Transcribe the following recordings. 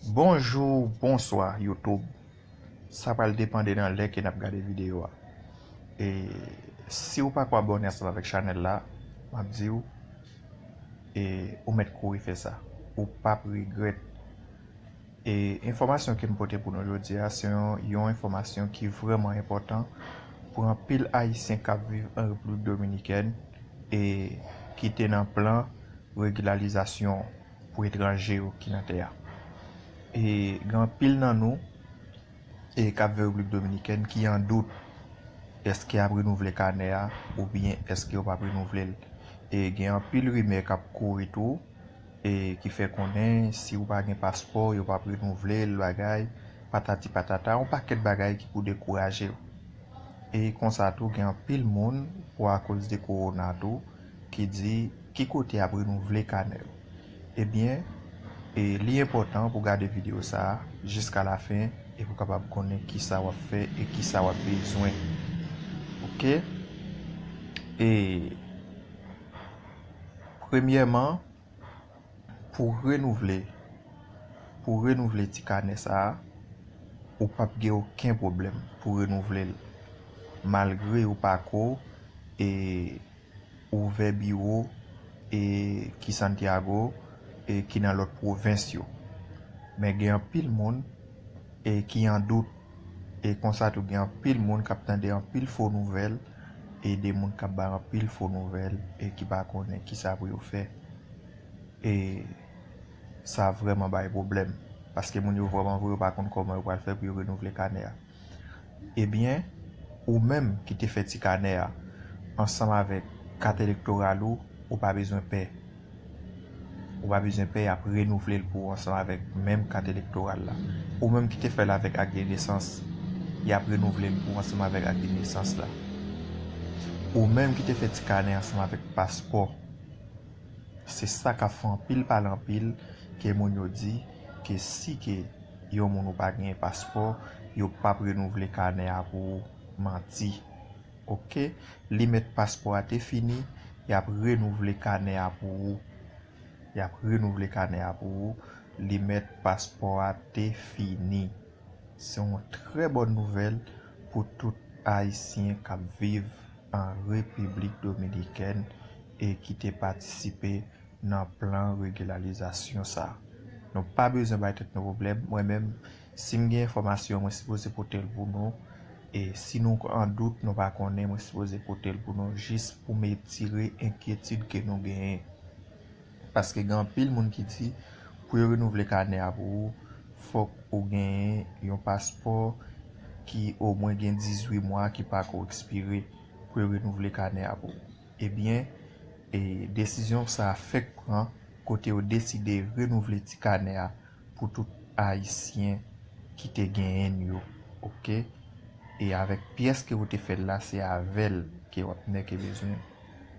Bonjou bonswa YouTube sa pral depande nan lè ke nap gade video a e siw pako abòne ansanm avèk chanèl la map diw e ou mèt kouri fè sa ou pap regrèt e enfòmasyon kem pote pou nou jodia se yon enfòmasyon ki vrèman enpòtan pou anpil ayisyen kap viv an República Dominikèn e ki te nan plan regilalizasyon. pou etranje yo ki nan tè a. E gen anpil nan nou e kap viv Repiblik Dominikèn ki an dout eske yap renouvle kanè a oubyen eske yo pap renouvle l. E gen anpil rimè kap kouri tou e ki fè konnen si ou pa gen paspò yo pap renouvle l bagay patati patata yon pakèt bagay ki pou dekouraje w. E konsa tou gen anpil moun pou akoz de kowona tou. ki di ki kote yap renouvle kanè yo ebyen e li enpòtan pou gade video sa jiska la fen e pou kapab konnen kisa wap fè e kisa wap bezwen ok e premyèman. Pou renouvle pou w renouvle ti kanè sa a, ou pap gen oken pwoblèm pou renouvle l malgre ou pa ko e ouvè biwo e ki Santiago e ki nan lòt pwovens yo. Men gen anpil moun e ki an dout. E konsa tou gen anpil moun kap tande anpil fo nouvèl e de moun kap bay anpil fo nouvèl e ki pa konnen kisa pou yo fè e sa vrèman bay pwoblèm paske moun yo vrèman vre yo pa konn kòman yo pral fè pou yo renouvle kanè a ebyen ou menm ki te fè ti kanè a ansanm avèk kat elektoral ou ou pa bezwen pè. Ou pa bezwen pè yap renouvle l pou ou ansanm avèk menm kat elektoral la. Ou menm ki te fè l avèk ak de nesans, yap renouvle l pou ou ansanm avèk ak de nesans la. Ou menm ki te fè ti kanè ansanm avèk paspò. Se sa kap fè anpil pale anpil ke moun yo di ke si ke yon moun ou pa genyen paspò, yo pap renouvle kanè a pou ou. Manti. Ok limit paspò a te fini yap renouvle kanè a pou ou yap renouvle kanè a pou ou limit paspò a te fini se yon trè bòn nouvèl pou tout ayisyen kap viv an repiblik dominikèn e ki te patisipe nan plan regilalizasyon sa nou pa bezwen bay tèt nou pwoblèm mwen menm sim gen enfòmasyon mwen sipoze potel pou nou. E si nou an dout, nou pa konnen, mwen sipoze pote l pou nou jis pou m etire enkyetid ke nou genyen. Paske gen anpil moun ki di, pou yo renouvle kanè a pou ou, fòk ou genyen yon paspò ki omwen gen 18 mwa ki pa ko ekspire pou yo renouvle kanè a pou ou. Ebyen, desizyon sa fèk pran kote yo deside renouvle ti kanè a. pou tout ayisyen ki te genyenn yo ok e avèk pyès ke ou te fèl la se avèl ke wap nèke bezwen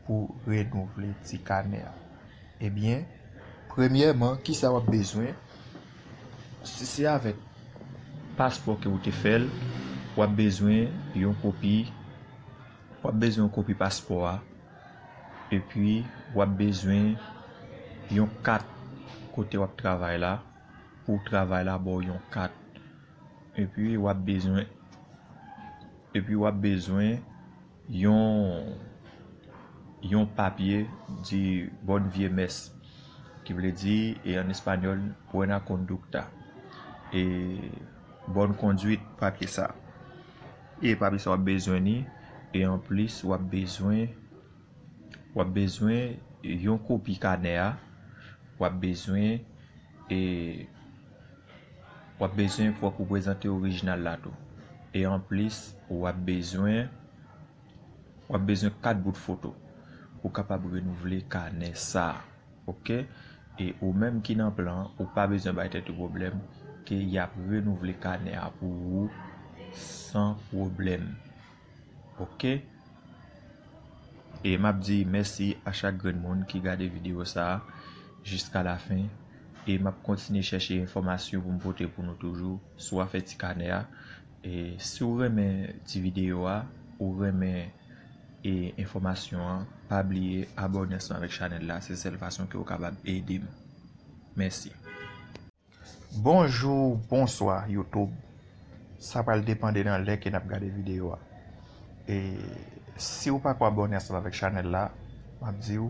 pou renouvle ti kanè a ebyen premyèman kisa wap bezwen si se avèk paspò ke ou te fèl wap bezwen yon kopi wap bezwen yon kopi paspò a. Epi wap bezwen yon kat kote wap travay la pou travay la baw yon kat epi wap bezwen epi wap bezwen yon yon papye di bon vye mès ki vle di e an español buena conducta e Bonne conduite papye sa e papye sa wap bezwen li e anplis wap bezwen wap bezwen yon kopi kanè a wap bezwen e wap bezwen fòk ou prezante orijinal la tou e anplis wap bezwen wap bezwen 4 bout foto pou kapab renouvle kanè sa. Ok e ou menm ki nan plan an ou pa bezwen bay tèt ou pwoblèm ke yap renouvle kanè a pou ou san pwoblèm ok e map di mèsi a chak grenn moun ki gade video sa jiska la fen e map kontinye chèche enfòmasyon pou m pote pou nou toujou sou afè ti kanè a e si ou renmen ti video a ou renmen. e enfòmasyon an pa bliye abòne ansanm avèk chanèl la se sèl fason ke ou kapab edem mèsi. Bonjou bonswa YouTube sa pral depande nan lè ke nap gade video a e siw pako abòne ansanm avèk chanèl la map diw.